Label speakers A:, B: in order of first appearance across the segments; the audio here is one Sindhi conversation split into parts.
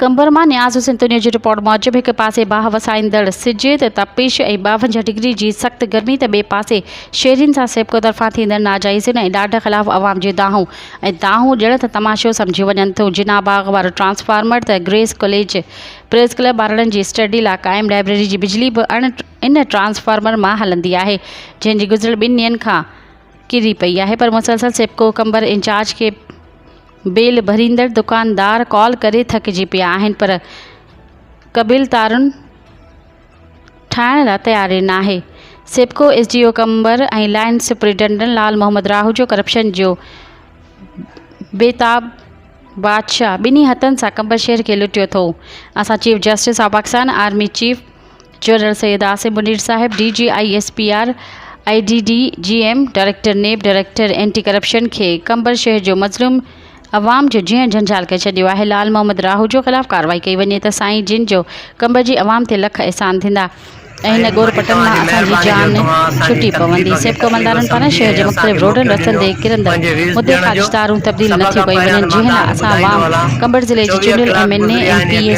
A: قمبر مان نياز حسين تونيو جي رپورٽ موجب هڪ پاسي باهه وسائيندڙ سج تي تپش ۽ ٻاونجاهه ڊگري جي سخت گرمي ته ٻئي پاسي شهرين سان سيپڪو طرفان ٿيندڙ ناجائزين ۽ ڏاڍ خلاف عوام جون دانهون ۽ دانهون ڄڻ ته تماشو سمجهيون وڃن ٿيون جناح باغ وارو ٽرانسفارمر ته گريس ڪاليج پريس ڪلب ٻارڙن جي اسٽڊي لاء قائم لائبريري جي بجلي به ان ٽرانسفارمر مان هلندي آهي جنهن جي گذريل ٻن ڏينهن کان ڪري پئي آهي پر مسلسل سيپڪو ڪمبر انچارج کي بيل ڀريندڙ دڪاندار ڪال ڪري ٿڪجي پيا آهن پر قبيل تارون ٺاهڻ لا تياري ناهي SEPCO S D O Qambar ۽ line superintendent Lal Muhammad Rahojo corruption جو بيتاب بادشاهه ٻنهي هٿن سان ڪمبر شهر کي لٽيو ٿو اسان chief justice of Pakistan army chief general Syed Asim Munir صاحب، D G I S P R, I D D G M, director NAB, director anti corruption کي قمبر شهر جو مظلوم عوام جو جيئڻ جھنجھال ڪري ڇڏيو آهي لعل محمد راهوجو خلاف ڪارروائي ڪئي وڃي ته سائين جن جو قمبر جي عوام تي لک احسان ٿيندا ۽ هن ڳور پٽن مان اسان جي جان ڇٽي پوندي سيپڪو عملدارن پاران شهر جي مختلف روڊن رستن تي ڪرندڙ مدي خارج تارون تبديل نه ٿيون ڪيون وڃن جنهن لاء اسان عوام قمبر ضلعي جي چونڊيل M N A ۽ P A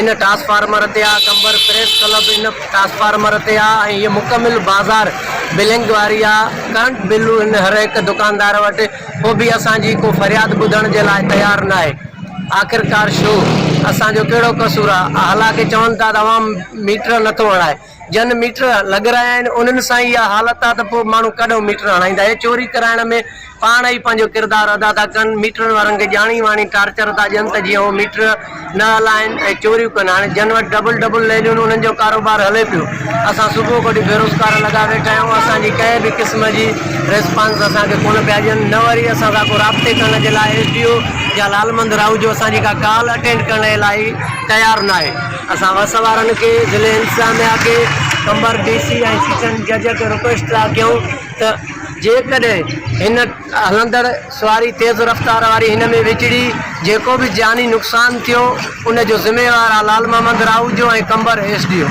B: ان ٽرانسفارمر تي آ قمبر پريس ڪلب ان ٽرانسفارمر تي آ ۽ هيء مڪمل بازار بلنگ واري آ ڪرنٽ بل هن هر هڪ دڪاندار وٽ پو به اسان جي ڪو فرياد ٻڌڻ جي لاء تيار ناهي آخرڪار شو اسان جو ڪهڙو قصور آ هلانڪه چون ٿا ته عوام ميٽر نٿو هڻائي جن ميٽر لڳرايا آهن انهن سان ئي اها حالت آ ته پوء ماڻهو ڪڏهن ميٽر هڻائيندا. اهي چوري ڪرائڻ ۾ پاڻ ئي پنهنجو ڪردار ادا ٿا ڪن. ميٽرن وارن کي ڄاڻي واڻي ٽارچر ٿا ڏين ته جيئن هو ميٽر نه هلائين ۽ چوريون ڪن. هاڻي جن وٽ ڊبل ڊبل ليليون آهن انهن جو ڪاروبار هلي پيو. اسان صبح کوٽي بيروزگار لڳا ويٺا آهيون. اسان جي ڪنهن به قسم جي ريسپانس اسان کي ڪونه پيا ڏين نه وري اسان سان ڪو رابطي ڪرڻ جي لاء ايس ڊي او يا لالمند راهوجو اسان جي ڪا ڪال اٽينڊ ڪرڻ جي لاء تيار ناهي. اسان وس وارن کي، ضلعي انتظاميا کي، قمبر ڊي سي ۽ سيشن جج کي رڪويسٽ ٿا ڪيون ته جيڪڏهن هن هلندڙ سواري تيز رفتار واري هن ۾ وچڙي جيڪو به جاني نقصان ٿيو ان جو ذميوار آ لعل محمد راهوجو ۽ قمبر ايس ڊي او